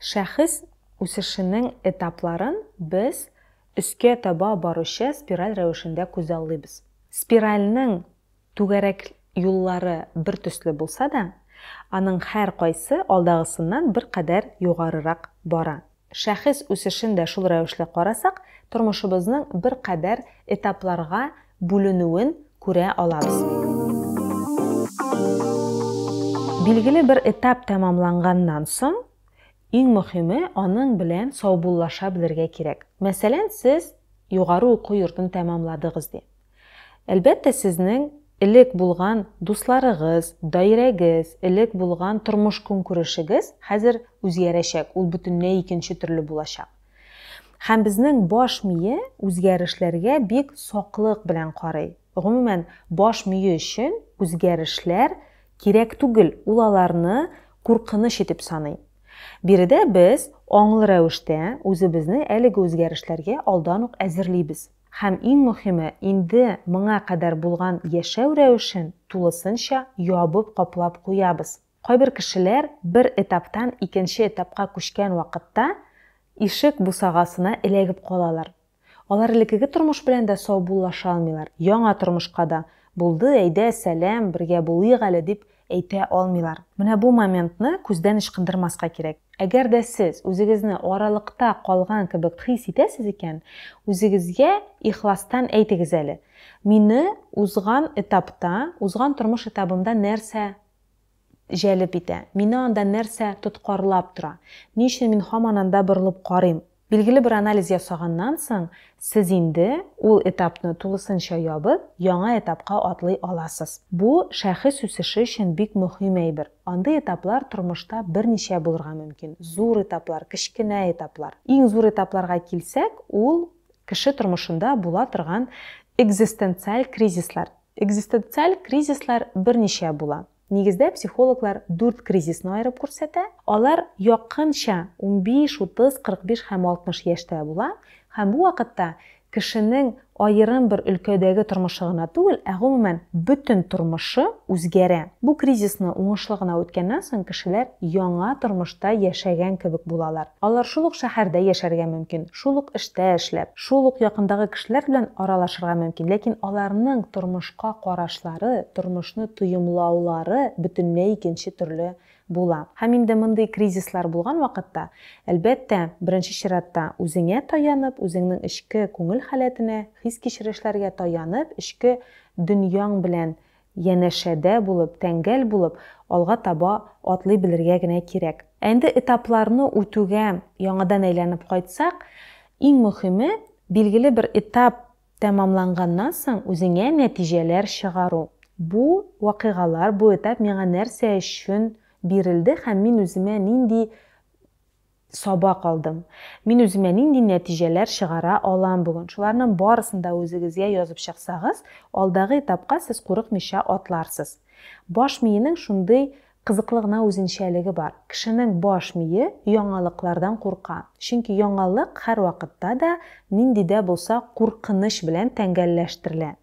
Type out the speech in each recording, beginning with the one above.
Шәхес үсешенең этапларын без өскә таба баручы спираль рәвешендә күзаллыйбыз. Спиральнең түгәрәк юллары бертөсле булса да, аның һәркайсы алдагысыннан беркадәр югарырак бара. Шәхес үсешен дә шул рәвешле карасак, тормышыбызның беркадәр этапларга бүленүен күрә алабыз. Билгеле бер этап тәмамланганнан соң, иң мөхиме, аның белән саубуллаша белергә кирәк. Мәсәлән, сез югары уку йортын тәмамладыгыз ди. Әлбәттә, сезнең элек булган дусларыгыз, даирәгез, элек булган тормыш-көнкүрешегез хәзер үзгәрәчәк, ул бөтенләй икенче төрле булачак. Һәм безнең баш мие үзгәрешләргә бик саклык белән карый. Гомумән, баш мие өчен үзгәрешләр кирәк түгел, ул аларны куркыныч итеп саный. Биредә без аңлы рәвештә үзебезне әлеге үзгәрешләргә алдан ук әзерлибез. Һәм иң мөһиме, инде моңа кадәр булган яшәү рәвешен тулысынча ябып-каплап куябыз. Кайбер кешеләр бер этаптан икенче этапка күчкән вакытта ишек бусагасына эләгеп калалар. Алар элеккеге тормыш белән дә саубуллаша алмыйлар, яңа тормышка да, Булды, әйдә, сәлам, бергә булыйк әле, дип әйтә алмыйлар. Менә бу моментны күздән ычкындырмаска кирәк. Әгәр дә сез үзегезне аралыкта калган кебек хис итәсез икән, үзегезгә ихластан әйтегез әле, Мине узган этапта, узган тормыш этабымда нәрсә җәлеп итә. Мине анда нәрсә тоткарлап тора? Ни өчен мин һаман анда борылып карыйм? Билгеле бер анализ ясаганнан соң, сез инде ул этапны тулысынча ябып, яңа этапка атлый аласыз. Бу, шәхес үсеше өчен бик мөһим әйбер. Андый этаплар тормышта берничә булырга мөмкин, зур этаплар, кечкенә этаплар. Иң зур этапларга килсәк, ул, кеше тормышында була торган экзистенциаль кризислар. Экзистенциаль кризислар берничә була. Нигездә психологлар дүрт кризисны аерып күрсәтә. Алар якынча унбиш, утыз, кырык биш һәм алтмыш яшьтә була һәм бу вакытта кешенең аерым бер өлкәдәге тормышы гына түгел, ә гомумән бөтен тормышы үзгәрә. Бу кризисны уңышлы гына үткәннән соң кешеләр яңа тормышта яшәгән кебек булалар. Алар шул ук шәһәрдә яшәргә мөмкин, Шул ук эштә эшләп, шул ук якындагы кешеләр белән аралашырга мөмкин, ләкин аларның тормышка карашлары, тормышны тоемлаулары бөтенләй икенче төрле була. Һәм инде мондый кризислар булган вакытта, әлбәттә, беренче чиратта үзеңә таянып, үзеңнең эчке күңел халәтенә, хис-кичерешләргә таянып, эчке дөньяң белән Янәшәдә булып, тәңгәл булып алга таба атлый белергә генә кирәк. Ә инде этапларны үтүгә яңадан әйләнеп кайтсак, иң мөхиме, билгеле бер этап тәмамланганнан соң үзеңә нәтиҗәләр чыгару. Бу вакыйгалар, бу этап миңа нәрсә өчен бирелде һәм мин үземә нинди Сабак алдым. Мин үземә нинди нәтиҗәләр чыгара алам бүген? Шуларның барысын да үзегезгә язып чыксагыз, алдагы этапка сез курыкмыйча атларсыз. Баш миенең шундый кызыклы гына үзенчәлеге бар, кешенең баш мие яңалыклардан курка, чөнки яңалык һәрвакытта да нинди дә булса куркыныч белән тәңгәлләштерелә.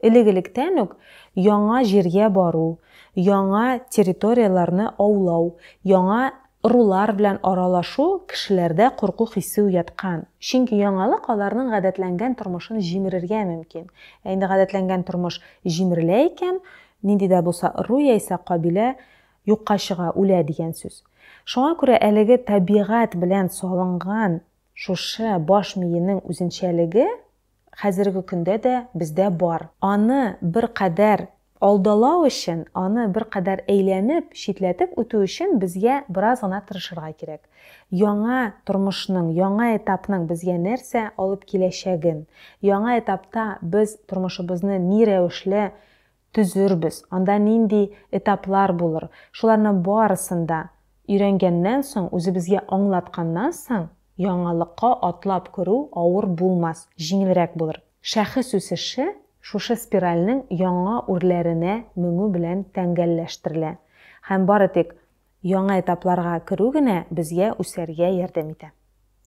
Элек-электән үк яңа җиргә бару, яңа территорияләрне аулау, яңа ырулар белән аралашу кешеләрдә курку хисе уяткан. Чөнки яңалык аларның гадәтләнгән тормышын җимерергә мөмкин. Ә инде гадәтләнгән тормыш җимерелә икән, нинди дә булса ыру яисә кабилә юкка чыга, үлә дигән сүз. Шуңа күрә әлеге табигать белән салынган шушы баш миенең үзенчәлеге хәзерге көндә дә бездә бар. Аны беркадәр алдалау өчен, аны беркадәр әйләнеп, читләтеп үтү өчен безгә бераз гына тырышырга кирәк. Яңа тормышның, яңа этапның безгә нәрсә алып киләчәген, яңа этапта без тормышыбызны ни рәвешле Төзербез, анда нинди этаплар булыр, шуларның барысын да өйрәнгәннән соң, үзебезгә аңлатканнан соң, яңалыкка атлап керү авыр булмас, җиңелрәк булыр. Шәхес үсеше шушы спиральнең яңа үрләренә менү белән тәңгәлләштерелә һәм бары тик яңа этапларга керү генә безгә үсәргә ярдәм итә.